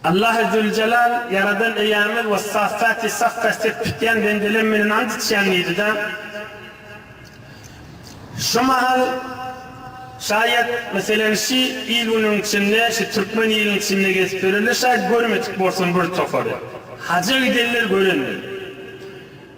Allahy Züljelal, Ýaradan Eýämiz, Wessaffati Saffa Ses tutýan bendelem menden ant içýän diýdi-de, şu mahal, şaýat, meselem, şi il-günüň içinde, şi türkmen iliň içinde gezip ýörerler, şaýat görmedik bolsun bir topary. Haja gidenler görendir.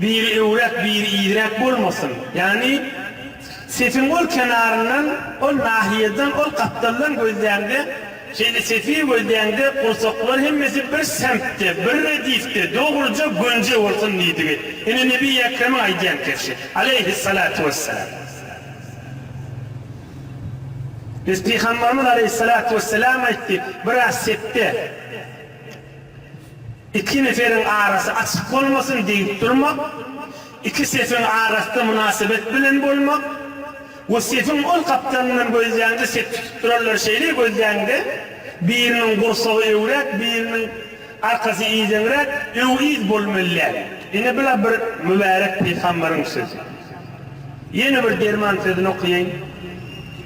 Biri öwräp, biri irräk bolmasyn. Ýagny, sefiň ol kenaryndan, ol nahiýeden, ol gapdaldan gözläňde, şeýle sefi gözläňde, gursaklar hemmesi bir semtde, bir redifde, dogruja gönje bolsun diýdigi. Ine, Nebiýi Ekremiň aýdýan keşi. Aleýhissalatu wessalam. Biz Pygambarymyz Aleýhissalatu wessalam aýtdy, biraz sepde. Iki neferiň arasy açyk bolmasyn diýip durmak, iki sefiň arasynda mynasybet bilen bolmak we sefiň ol gapdalyndan gözläňde sep tutup duranlary şeýle gözläňde, biriniň gursagy öwräk, biriniň arkasy yzeňräk, öw-yz bolmaly däl. Ine bu-la bir mübärek pygamberiň sözi. Ýene bir derman sözüni okaýaýyn.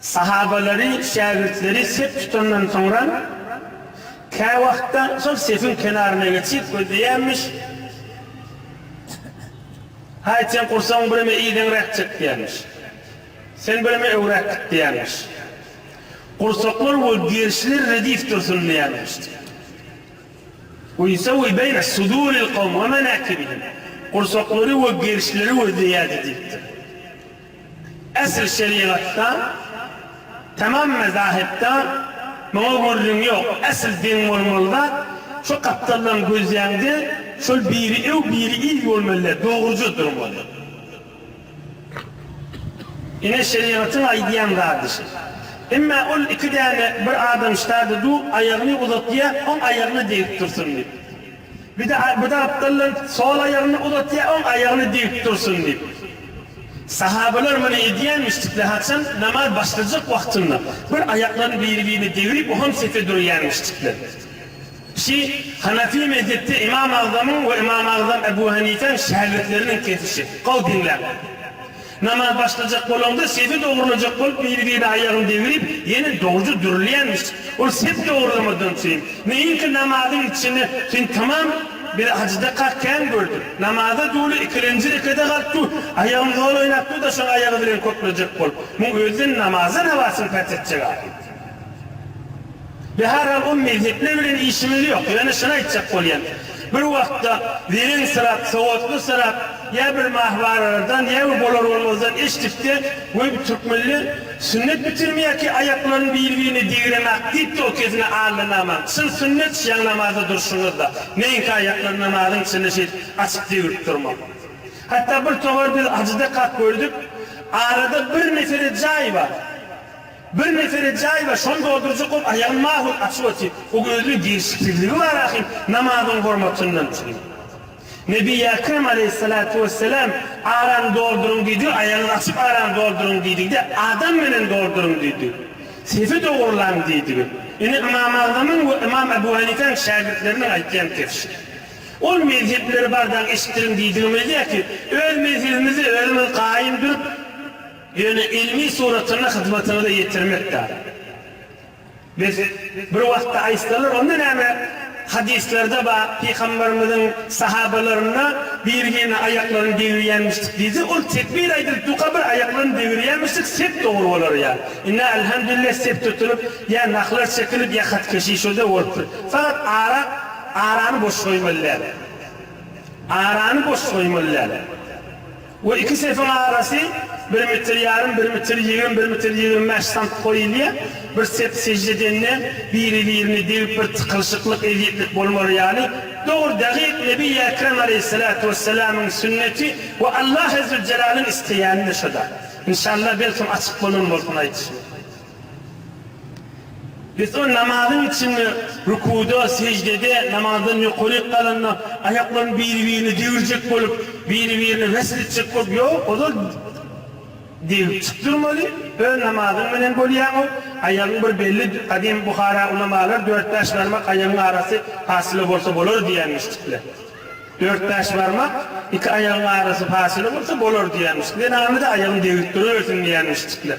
Sahabalary, şägirtleri sep tutandan soňra, käwagtda şol sepiň kenaryna geçip gözleýärmiş, Haýt, seň gursagyň bireme ideňräk çek diýermiş. Sen bireme öňräk git diýermiş. Gursaklar we gerşiler redif dursun diýermiş. We ýusawi beýne suduril kowm we menakibihim. Gursaklary we gerşileri gözleýärdi diýipdir. Esl şerigatda, tamam mezahipda muňa gürrüň ýok. Esl deň bolmaly zat şu gapdaldan gözläňde şol biri öw, biri yz bolmalydy, dogruja durmaly. Ine şerigatyň aýdýan zady şi. Emma ol iki däne bir adam şitady dur, aýagyny uzatýar, oň aýagyna degip dursun diýip. Bir daha bu da aptallar sol aýagyny uzatýar oň aýagyny diyip dursun diyip. Sahabalar muny edýänmişdikler haçan namaz başlajak wagtynda bir aýaklaryny biri birine degrip oham sefe durýanmişdikler. Şi Hanafi mezhepde Imam Agzamyň we Imam Agzam Ebu Hanifäň şägirtleriniň kesişi. Gowy diňläň. Namaz başlajak bolaňda sepi dogrulajak bolup biri-birine aýagyny degrip ýene dogja dürülýänmiş. Ol sep dogrulamadan syn. Meýinki namazyň içini syn tamam bir ajydaka kän gördüm. Namaza duly ikilenji rekede galyp dur, aýagyn zol oýnap dur-da şoň aýagy bilen köklejek bol. Muň özden namazdan habasyň päs etjek ahyr. Bi her hal o mezhepler bilen işimiz ýok. Ýöne şuny aýtjak bolýan. Bir wagtda zerensyrak, sowatlysyrak ýa bir mahwaralardan ýa bir bolar bolmazdan eşdikde, Weý bu türkmenler sünnet bitirimi ýa-ki aýaklaryny biri-birine degiremak diýipdi o kezine Alla namaz, çyn sünnet şiaň namazda durşuňyzda, meňki aýaklary namazyň içinde şeýdip açyp degrip durmak. Hatda bir towar biz Hajyda kap gördük, arada bir mesele jaý bar. Bir nefere jaý bar, şony doldurjak bolup aýagyn mahul açyp otyr. Ol özüniň gelşiksizligi bar ahyryn, namazyň hormatyndan üçin. Nebi Ekrem aleýhyssalatu wesselam, Arany dolduryň diýdigi, aýagyňyzy açyp arany dolduryň diýdigi-de, adam menen dolduryň diýdi. Sefi dogurlaň diýdigi. Ine Ymam Agzamyň we Ymam Ebu Hanipäň şägirtleriniň aýtýan kebşi. Ol mezhepleri bardan eşitdiriň diýdigimiz däl ki, öz mezhebimizde özümiz gaýym durup, Ýöne ilmi suratyny hyzmatyňyza ýetirmek dagy. Biz bir wagtda aýtsalar, onda näme, hadyslarda bar, pygamberimiziň sahabalaryna birgine aýaklaryny degirýänmişdik diýse, ol tekbir aýdylyp, duka bir aýaklaryny degirýänmişdik, sept dogry bolar ýa inna elhamdülillah sept tutulyp, ýa nahlar çekilip, ýa hatkeşi şode bolupdyr. Fakat ara, arany boş goýmaly däl. Arany boş goýmaly däl. Bu iki sesiň arasy bir metr ýarym, bir metr ýigrimi, bir metr ýigrimi bäş sant goýulýar. Bir sep sežde edende biri-birine degip bir tykylyşyklyk, ezýetlik bolmaly ýaly. Dogry, dagyk Nebi Ekrem aleýhissalatu wessalamyň sünneti we Allah Ezzüjjelalyň isleýäni-de şo-da. Enşalla belkem açyk bolan bolsun aýdyşym. Beton namazyň içinde, rükuda, seždede, namazdan ýokaryk galanda, aýaklaryny biri-birine degrjek bolup, biri-birine wesl etjek bolup ýok, ozal degip çyk durmaly, öz namazyň bilen bolýaňow, aýagyň bir belli gadym Buhara ulamalar dört-bäş barmak aýagyň arasy pasyla bolsa bolar diýenmişdikler. Dört-bäş barmak iki aýagyň arasy pasyla bolsa bolar diýenmişdikler. Enamyda aýagyny degrikdiribersin diýenmişdikler.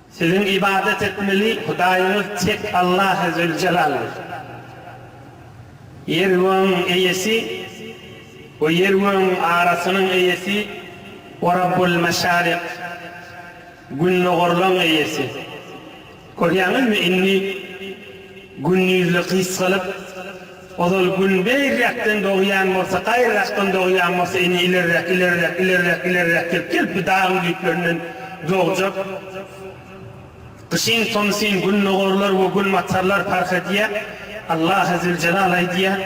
Siziň ybadat etmeli Hudaýyňyz tek Allahy Züljelaldyr. Ýer-gögüň Eýesi we ýer-gögüň arasynyň Eýesi O Rabbul Meşarik, Gündogarlaň Eýesi. Görýäňizmi, indi gündizli gysgalyp, Ozal Gün beýräkden dogýan bolsa, gaýrarakdan dogýan bolsa, indi ilerräk, ilerräk, ilerräk, ilerräk gelip, gelip bu dagyň düýplerinden dogjak. Gyşyn tomsyn Gündogarlar we Günbatarlar parh edýär. Allah Azzywjelal aýdýar,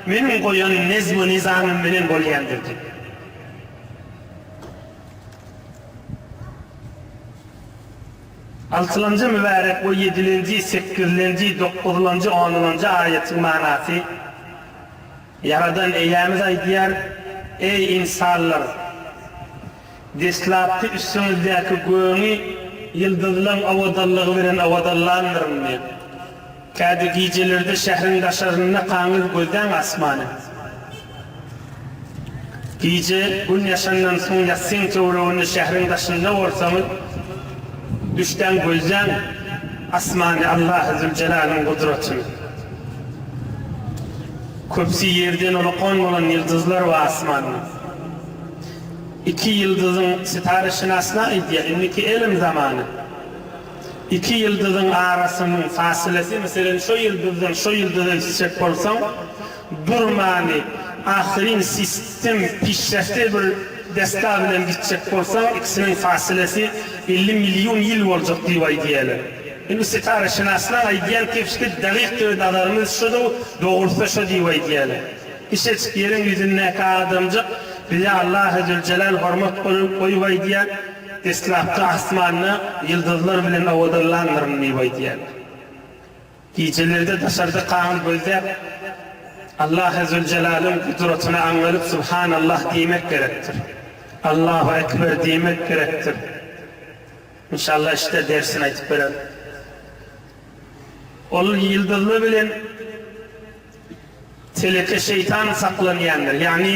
Meniň goýan nezm-u-nyzamym bilen bolýandyr diýip. Altylanja mübärek we ýedilenji, sekizlenji, dokuzlanjy, onlanjy aýatyň manasy, Ýaradan Eýämiz aýdýar, Eý, ynsanlar! Deslapky üstüňizdäki göni ýyldyzlaň owadanlygy bilen owadanlandyryn diýip. Käte gijelerde şähriň daşarynda kaňyz gözläň asmany. Gije gün ýaşandan soň ýassyň töwereginde şähriň daşynda bolsaňyz, düşläň gözläň asmany Allahy Züljelalyn gudratyny. Köpsi ýerden ulakan bolan ýyldyzlar we asmanda. Iki ýyldyzyň sytara şynaslar aýdýar, indiki elm zamany. Iki ýyldyzyň arasynyň fasylasy, meselem, şo ýyldyzdan şo ýyldyza gitjek bolsaň, durmany, ahyryn sistem pişrehte bir desga bilen gitjek bolsaň, ikisiniň fasylasy elli million ýyl boljak diýip aýdýarlar. Indi bu setaraşynaslaň aýdýan kepişki dagyk döl nazarymyz şoda-u, dogrusy-da şo diýip aýdýarlar. Kiçejik ýeriň ýüzündäki adamjyk bize Allahy Züljelal hormat goýup aýdýar. Deslapky asmanda ýyldyzlar bilen owadanlandyryn diýip aýdýar. Gijelerde daşarda kagyz gözläp, Allahy Züljelalyn gudratyny aňňalyp Subhanallah diýmek gerekdir. Allahu Ekber diýmek gerekdir. Inşallah işde dersini aýtyp bererin. Ol ýyldyzly bilen teleke şeýtan saklanýandyr. Ýagny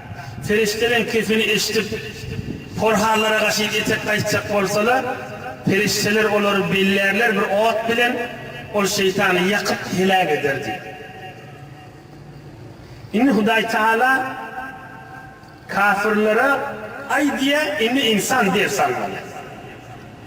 Perişdeleň kepini eşidip, porhanlara gaşyp etek gaýtjak bolsalar, perişdeler olary bellärler bir ot bilen, ol şeýtany ýakyp heläk eder diýip. Indi Hudaý Tagala kafirlere Aý diýýär, indi ynsan ders almaly.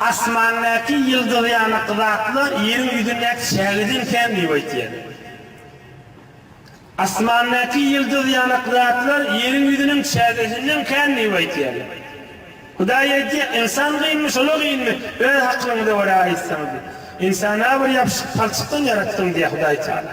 Asmandaky ýyldyz ýaly gyzatlar ýeriň ýüzündäki çägeden kän diýip aýtýar. Asmandaky ýyldyz ýaly gyzatlar ýeriň ýüzüniň çägesinden kän diýip aýtýar. Hudaý aýtýar, Ynsan gynmy, şol-a gynmy? Öz akylyňyza görä aýtsaňyz. Ynsany-a bir ýapyşyk palçykdan ýaratdyň diýýär Hudaýtagala.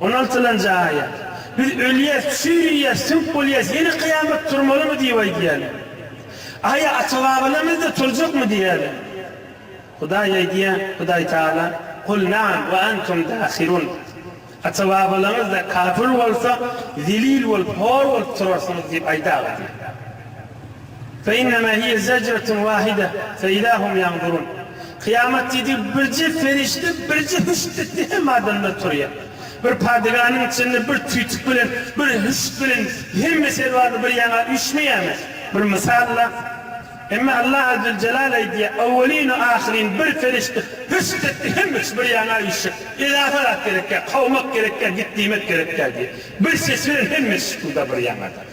Onaltylan jaýa, Biz ölýäs, çüýrüýäs, söwüp bolýas, ýene kyýamat turmalymy diýip aýdýarlar. Aýa, ata-babalarymyzda turjakmy diýýärler. Hudaý aýdýar, Hudaý Tagala, Kul na'am we antum dahirun, Ata-babalaryňyzda kapyr bolsa, zelil bolup, hor bolup turarsyňyz diýip aýdaga diýýär. Feinema hiye zecretun wahide feida hum yanzurun. Kyýamat diýdigi birje perişde birje hüşt etdi hemme adamlar turýar. Bir padyganyň içinde bir tüýtük bilen bir hüşt bilen hemme serwarlar bir ýaňa üýşmeýärmi? Bir mysal-la. Emma Allah Azzeljelal aýdýar, Owwelinu ahyryn bir perişde hüşt etdi hemme üçi bir ýaňa üýşşek. Edafa zat gerekýär, kowmak gerekýär, git diýmek gerekýär diýýär. Bir ses bilen hemmesi şypylda bir ýaňada.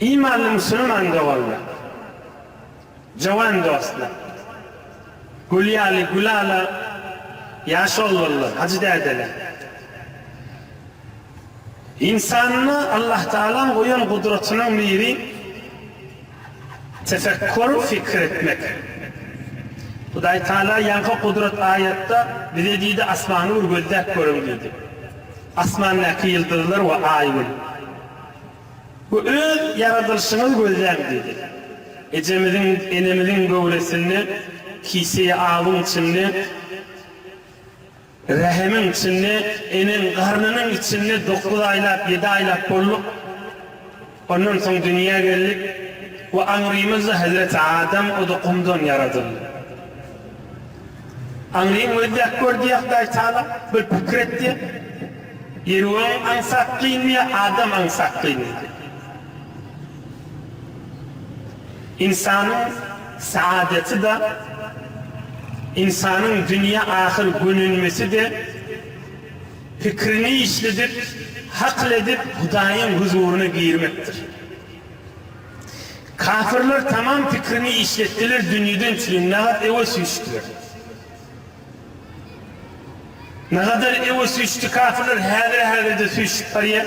Imanly musulman doganlar, jowan dostlar, gül ýaly gülala ýaş oglanlar, hajy dädeler! Ynsanda Allahtagalaň goýan gudratynyň miri Tefekkur, pikir etmek. Hudaý Tagala ýaňky gudrat aýatda bize diýdi, Asmany bir gözläp görüň diýdi. Asmandaky ýyldyzlar we Aý gün. We öz ýaradylyşyňyzy gözläň diýdi. Ejemiziň, enemiziň göwresinde, kiseýi awuň içinde, Rähimiň içinde, eneň garnynyň içinde dokuz aýlap, ýedi aýlap bolduk. Ondan soň dünýä geldik we aňrymyzda hezreti Adam, o-da gumdan ýaradyldy. Aňryň özi-ýak gördü-ýak daýtalap, bir pikir etdi, Ýeriöň aňsat gyndy ýa Adam aňsat gyndy? Ynsanyň saadeti-de, ynsanyň dünýä ahyr gönenmesi-de pikrini işledip, hakyl edip Hudaýyň huzuryna girmekdir. Kafirler tamam pikrini işletdiler, dünýeden çüri nagat ewe süýşdiler. Nagadar ewe süýşdi kafirler, häzir-häzirde süýşüp barýar.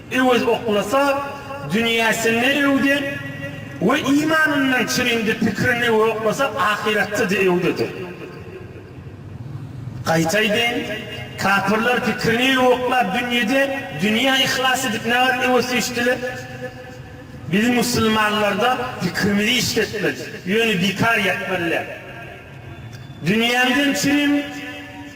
Öwez oklasa, dünýäsinde öwde we imanyndan çürindi, pikirinde we oklasa, ahyratda-da öwdedir. Gaýta aýdaýyn, kapyrlar pikirini we oklap dünýede, dünýä yhlas edip nähili öwesýüşdiler? Biz musulmanlarda pikirimizi işletmeli, ýöne bikar ýatmaly däl. Dünýäňden çürin.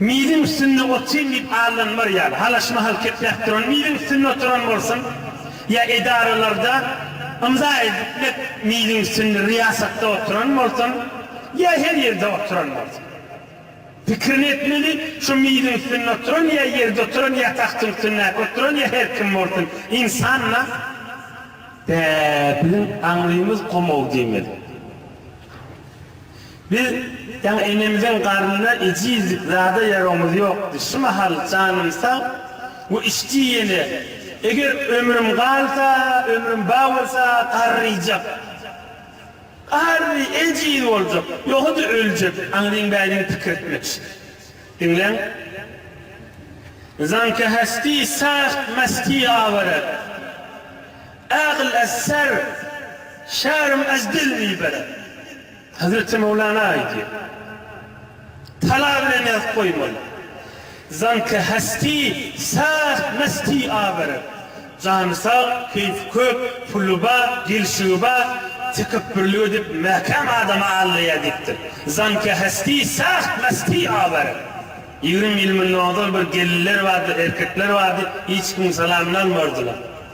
Miziň üstünde otyň diýip allanmar ýaly, halaç mahal kepläp duran miziň üstünde oturan bolsun, ýa edaralarda ymza ediplik miziň üstünde ryýasatda oturan bolsun, ýa her ýerde oturan bolsun. Pikirini etmeli, şu miziň üstünde oturan ýa ýerde oturan ýa tagtyň üstündäki oturan ýa her kim bolsun, ynsan-la. Bä, biziň aňrymyz gomaw diýmeli. Biz jan enemiziň garnyna ejizlik zada ýaragymyz ýokdy. Şu mahal janym sag we işji ýene. Eger ömrüm galsa, ömrüm ba bolsa garryjak. Garry, ejiz boljak. Ýogsa-da öljek. Aňryň bädiň pikirtmek. Diňläň. Zanka hästi, saht, mästi awara. Ägl ez ser, şärm ez dilmi belend. Hezreti Möwlana aýdýar, Tala bilen ýazyp goýmaly. Zanki hesti sag, mesti awerek. Jany sag, keýfi kök, puly bar, gelşigi bar, tekepbürlik edip, mäkäm adama aldaýar diýipdir. Zanki hesti sag, mesti awerek. Ýigrimi ýyl mundan ozal bir gelinler bardy, erkekler bardy, hiç kimiň salamyny almardylar.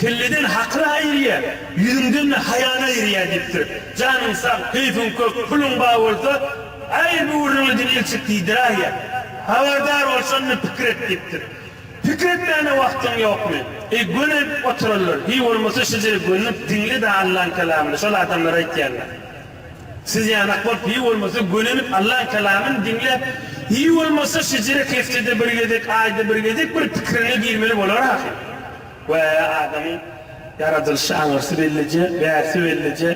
Kelleden hakyr aýyrýa, ýüzüňden-de haýan aýyrýa diýipdir. Janyň sag, keýpiň kök, puluň ba bolsa, Äý, bu gürrüňi diňe ilçik diýdiräýe. Habardar bol, şonda pikir et diýipdir. Pikir etmäne wagtyň ýokmy? Eý, gönenip oturarlar. Hiý, bolmasa şeje gönenip diňle-de Allaň kelamyny, şol adamlar aýtýanlar. Siz ýanak bolup, hiý, bolmasa gönenip Allaň kelamyny diňle. Hiý, bolmasa şejerek heftede bir gezek, aýda bir gezek bir pikiriňe girmeli bolar ahyryn. We adamyň ýaradylyşy aňyrsy bellije, bärsi bellije,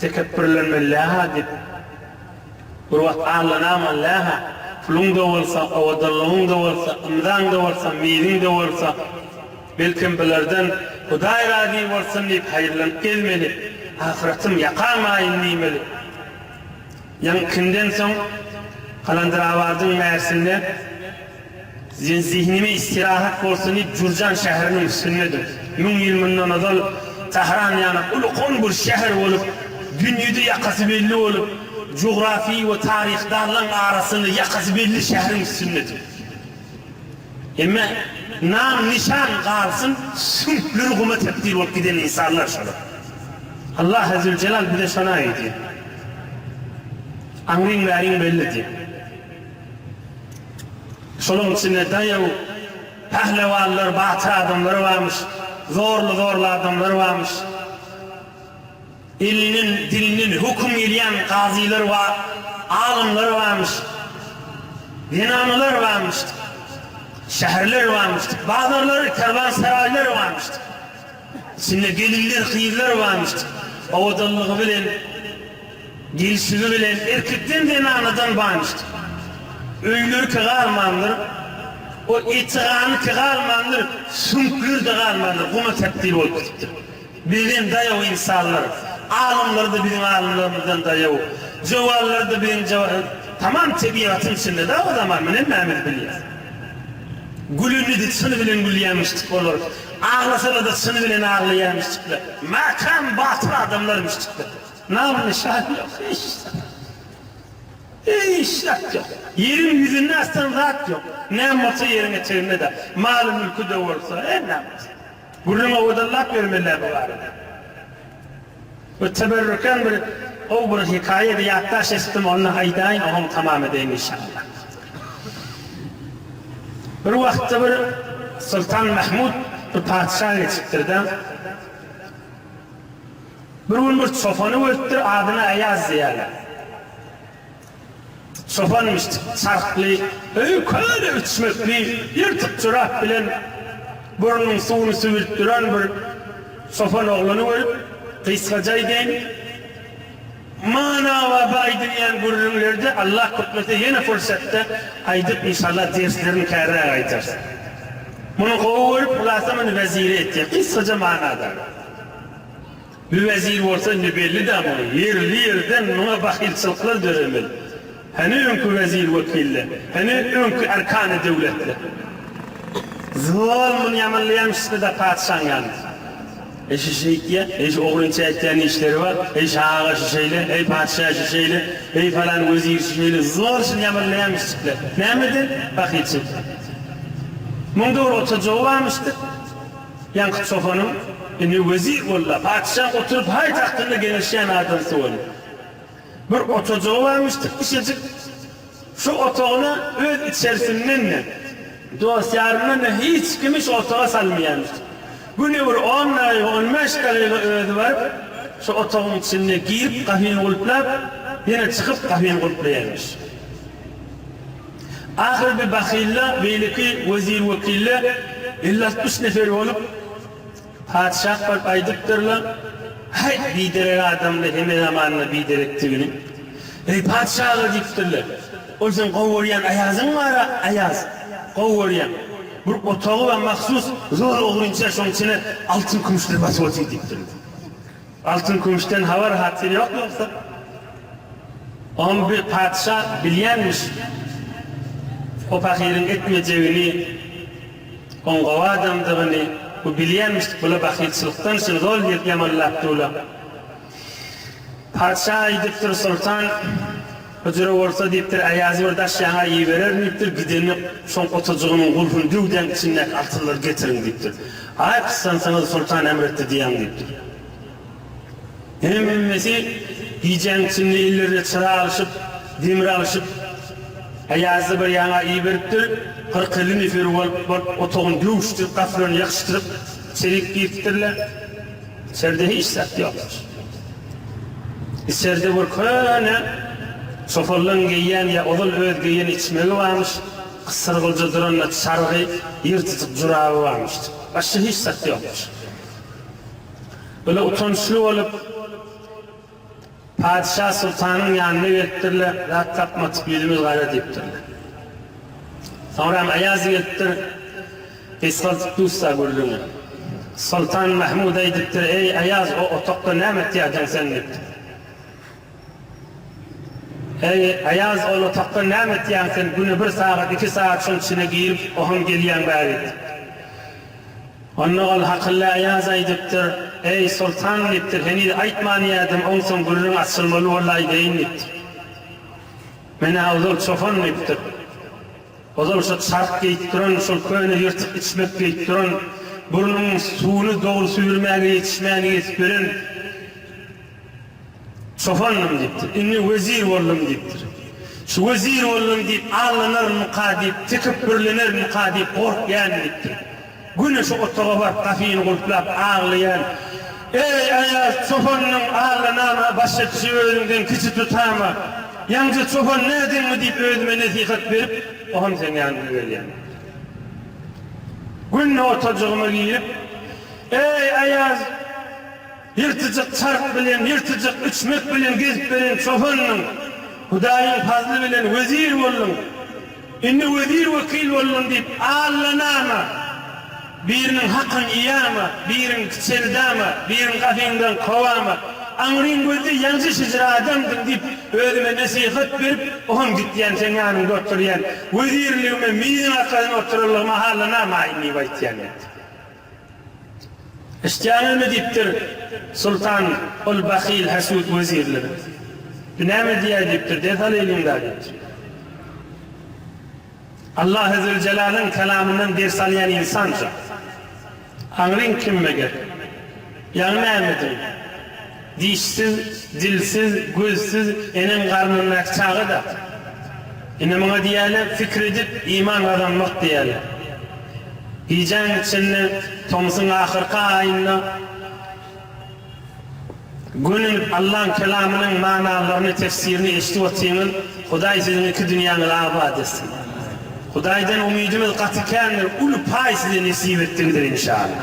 tekepbürlenmeli läha diýip, gurbat allanamaly läha, puluň-da bolsa, owadanlygyň-da bolsa, ymzaň-da bolsa, miziň-de bolsa, belkem bulardan Hudaý razy bolsun diýip haýyrlanyp gezmeli, ahyratym ýakan maýyn diýmeli. Ýaň Kimden soň Kalandyrabadyň märsinde Sen zihnime istirahat bolsun diýip Jürjan şäheriniň üstündedir. Müň ýyl mundan ozal Tahran ýaly uly-koň bir şäher bolup, dünýede ýakasy belli bolup, jugrafy we taryhdallaň arasynda ýakasy belli şäheriň üstündedir. Emma nam-nyşan galsyn, süňkleri guma tebdil bolup giden ynsanlar şolar. Allahy Züljelal bize şony aýdy. Aňryň-bäriň belli diýip. Şolaryň içinde daýaw, pählewanlar, batyr adamlar barmyş, zorly-zorly adamlar barmyş. Ilinden, dininden höküm gelýän gazylar bar, alymlar barmyş, zenanalar barmyş, şäherler barmyş, bazarlary, kerwansaraýlary barmyş. Içinde gelinler, gyzlar barmyş. Owadanlygy bilen, gelşigi bilen erkekden, zenanadan barmyş. Öýleriki galmandyr, o eti-ganyky galmandyr, süňkleri-de galmandyr, guma tebdil bolup gidipdir. Bizden daýaw ynsanlar, alymlar-da biziň alymlarymyzdan daýaw, jowanlar-da biziň jowa Tamam tebigatyň içinde-dä o zaman, muny hemmämiz bilýäs. Gülünidi çyn bilen gülýämişdik olar, aglasalar-da çyn bilen aglaýamişdikler. Mäkäm, batyr adamlarmyşdyklar. Nam-nyşan ýok, hiç zat. Hiç zat ýok. Ýeriň ýüzünde aslan zat ýok. Näme bolsa ýeriň eteginde-dä. Maly-mülki-de bolsa, her näme bolsa. Gürrüň owadallap ýörmeliler bu barada. Bu teberrüken bir gowy bir hikaýa we ýatlaş eşitdim, ony aýdaýyn, oňam tamam edeýin inşallah. Bir wagtda bir Soltan Mahmud bir patyşa geçipdir-de, bir gün bir çopany görüpdir, adyna Aýaz diýýärler. Çopan çarhly, öýi köne üçmekli, ýyrtyk jorap bilen burnunyň suwuny süwrüp duran bir çopan oglany görüp, gysgajaý deň manawa baý diýýän gürrüňlerde Allah gutmasa ýene pursatda aýdyp inşallah derslerini kärräk aýdar. Muny gowy görüp hulasa muny wezire etýär. Gysgaja manada. Bu wezir bolsa indi belli-dä muňa, ýerli-ýerden muňa bahylçylyklar döremeli. Hany öňki wezir-wekiller, hany öňki erkany döwletler? Zol, muny ýamanlaýamyşda-da patyşaň ýanynda. Heý şu şeýtýä, heý şu ogrynça etýän işleri bar, heý şu aga şu şeýle, heý patyşa şu şeýle, heý falan wezir şu şeýle, zol şuny ýamanlaýamyşjikler. Nämeden? Bahylçylykdan. Muňda bir oturjagy barmyşdyr. Ýaňky çopanyň ini wezir boldy-da, patyşa oturyp haý tagtynda geňeşýän adamsy boldy. Bir otajagy barmyş tikmişejik. Şo otagyna öz içerisinden-de, dost-ýaryndan-da hiç kimi şo otaga salmaýarmyş. Güni bir on dagyga, on bäş dagyga özi baryp, şo otagyň içinde girip, gapyny gulplap, ýene çykyp, gapyny gulplaýarmyş. Ahyr bir bahylla beýleki wezir-wekiller elli-altmyş nefer bolup, patyşa baryp aýdypdyrlar, Häý, biderek adamly heme zamanda biderekdigini! Eý, patyşa-a! diýipdirler. Ol seň gowy görýän aýazyň bar-a, aýaz! Gowy görýän. Bir otagy bar, mahsus zor ogrynça, şonuň içine altyn-kümüşler basyp otyr, diýipdirler. Altyn kümüşden habar hatyr ýok ýogsa oňam bir patyşa bilýänmiş o pahyryň etmejegini oň gowy adamdygyny bu bilýänmiş bula bahylçylykdan şuny zol diýip ýamanlap dula patyşa aýdypdyr soltan Hyjyra bolsa diýipdir, Aýazy bir daş ýaňa ibererin diýipdir, gidenini şoň otajygynyň gulpuny döwdäň içindäki altynlary getiriň diýipdir. Aý gyssansaňyz soltan emr etdi diýäň diýipdir. Hemmesi gijäň içinde ellerine çyra alşyp, demir alşyp, Aýazy bir ýaňa iberipdir, kyrk-elli neferi bolup otagyny döwüşdirip, gapylaryny ýakyşdyryp içerik giripdirler. Içerde hiç zat ýokmuş. Içerde bir köne çopallaň geýýän ýa ozal öz geýen içmegi barmyş, gysyrgylja duran-da çargy, ýyrtyjyk juraby barmyş. Başga hiç zat ýokmuş. Bula utançly bolup. Patyşa soltanyň ýanyna gelipdirler, zat tapmadyk, ýüzümiz gara diýipdirler. Soňram Aýaz gelipdir, gysgaldyp dussa gürrüňi. Soltan Mahmyda aýdypdyr, Eý, Aýaz, o otagda näme etýärdiň sen diýipdir. Eý, Aýaz, ol otagda näme etýäň sen, güne bir sagat, iki sagat şoň içine girip, oham gelýäň bäri diýipdir. Onda ol Hakylla Aýaz aýdypdyr, Eý, soltan! diýipdir, Heniz aýtman ýaýdym, onsoň gürrüň açylmaly boldy, aýdaýyn diýipdir. Men-ä ozal çopan diýipdir. Ozal şo çark geýip duran, şol köne ýyrtyk içmek geýip duran, burnuň suwuny dogry süýrmäge ýetişmän ýetip ýören, Çopandym diýipdir. Indi wezir boldum diýipdir. Şu wezir boldum diýip allanarmyka diýip, tekepbürlenermika diýip gorkýan diýipdir. Güni şu otaga baryp gapyny gulplap aglaýan. Eý, aýaz, çopannyň allanama, başa kişi özüňden kiçi tutama. Ýaňja çopan nädeňmi diýip özüme nesihat berip, ohm seň ýanyňa gelýän diýipdir. Günde otajygyma girip, Eý, aýaz! Ýyrtyjyk çarp bilen, ýyrtyjyk üçmek bilen gezip beren çopandyň. Hudaýyň fazly bilen wezir bolduň. Indi wezir-wekil bolduň diýip, allanama. Biriniň hakyny iýama, biriňki çendama, biriňi gapyňdan kowama. Aňryň gözli ýanjyşyjyr adamdyň diýip, özüme nesihat berip, oham gitýän, seň ýanyňda oturýan. Wezirligime miziň arkadan oturanlygyma allanamaýyn diýip aýtýan diýipdi. Eşitýäňizmi diýipdir Sultan ol bahyl hasut wezirlere. Bu näme diýýär diýipdir ders al eliňdä diýipdir. Allah Ezzewjelalyň kalamyndan ders alýan ynsan şu. Aňryň kim meger? Ýaňy nämediň? Dişsiz, dilsiz, gözsüz eneň garnyndaky çaga-da. Indi muňa diýýärler pikir edip iman gazanmak diýýärler. Gijäň içinde, tomusyň ahyrky aýynda gönenip Allaň kelamynyň manalaryny, tefsirini eşidip otyňyz, Hudaý siziň iki dünýäňizi abat etsin. Hudaýdan umydymyz gaty kändir, uly paý size nesip etdigidir inşallah.